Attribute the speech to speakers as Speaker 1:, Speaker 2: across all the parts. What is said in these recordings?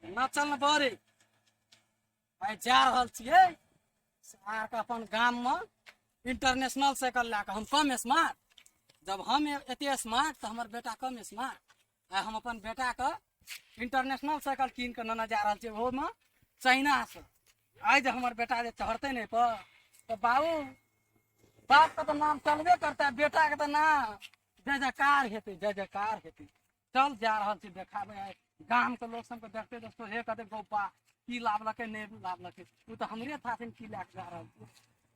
Speaker 1: ना चल ना बरे भाई जा रहल छिए सार के अपन गाम में इंटरनेशनल साइकिल ला के हम कम स्मार्ट जब हम एते स्मार्ट तो हमर बेटा कम स्मार्ट आ हम अपन बेटाके इंटरनेशनल साइकिल कीन कऽ नेने जा रहल छियै ओहोमे चाइनासँ आइ जे हमर बेटा जे चढ़तै ने पर तऽ बाबू बापके तऽ नाम चलबे करतै बेटाके तऽ नाम जय जयकार हेतै जय जयकार हेतै चल जा रहल छी देखाबै आइ गामके लोक सबके देखते देखते हे कहतै गौपा की लाबलकै नहि लाबलकै ओ तऽ हमरे थाथिन की लए कऽ जा रहल छी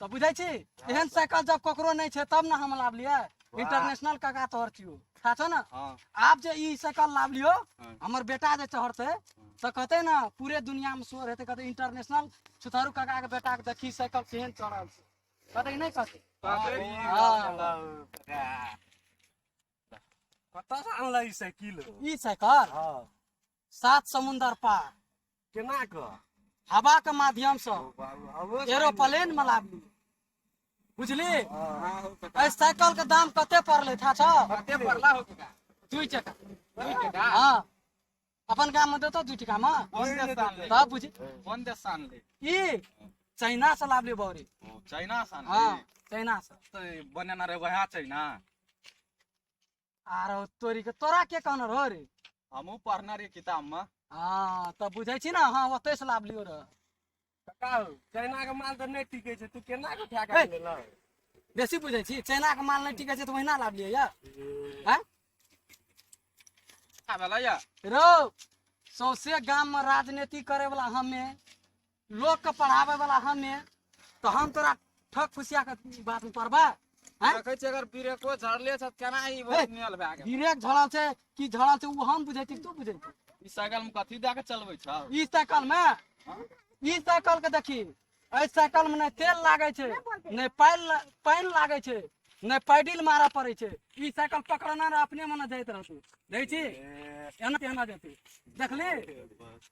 Speaker 1: तऽ बुझै छी एहन साइकिल जब ककरो नहि छै तब ने हम लाबलियै इंटरनेशनल काका तोहर छियो खा छौ ने हाँ आब जे ई साइकिल लाबलियो हाँ। हमर बेटा जे चढ़तै तऽ कहतै ने पूरे दुनिया में शोर हेतै कहतै इंटरनेशनल छुतहरू काका के बेटा के देखी साइकिल केहन चढ़ल छै कहतै कि नहीं कहतै हाँ। कतऽ से आनलै ई साइकिल ई साइकिल हाँ सात समुंदर पार केना कऽ हवा के माध्यम से एरोप्लेन में लाबली बुझली ए साइकिल के दाम कते पड़ले था छ कते पड़ला हो का दुई टका दुई टका हां अपन गाम में देतो दुई टका में कोन देश सान ले तब बुझी कोन देश सान ले ई चाइना से लाबली बौरी चाइना सान हां चाइना से तो बनेना रे वहा चाइना आर तोरी के तोरा के कहना रहो रे हमहू पढ़ना रही किताब में हाँ तब बुझे छी ना हाँ ओते से लाभ लियो रह का हो चाइना के माल तो नहीं टिके छै तू केना के उठा हे। के लेला बेसी बुझे छी चाइना के माल नहीं टिके छै तो वहिना लाभ लियो या हैं का भेला या रो सौसे गाम में राजनीति करे वाला हमे लोग के पढ़ावे वाला हमे तो हम तोरा ठक फुसिया के बात में पड़बा हैं? देखै छै अगर ब्रेको झड़ले छ केना ई हे। नियल भए गेल ब्रेक झड़ल छै कि झड़ल छै उ हम बुझै छी तू बुझै छी ई साइकिल में कथी दए के चलबै छ ई साइकिल में ई साइकिल के देखी एहि साइकिल में ने तेल लागे छै ने पानि ला- पानि लागे छै ने पैडिल मारऽ पड़े छै ई साइकिल पकड़ना रह अपने मने जाइत रहतै देखै छी एना केना जेतै देखली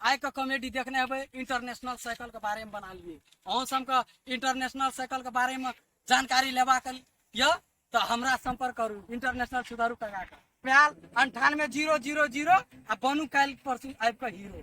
Speaker 1: आइ के कॉमेडी देखने हेबै इंटरनेशनल साइकिल के बारे में बना लिए अहूँ सब के इंटरनेशनल साइकिल के बारे में जानकारी लेबाक यऽ तो हमरा संपर्क करू इंटरनेशनल सुधारू कगा के प्याल अंठानवे जीरो जीरो जीरो आ बनू काल्हि परसू आबि कऽ हीरो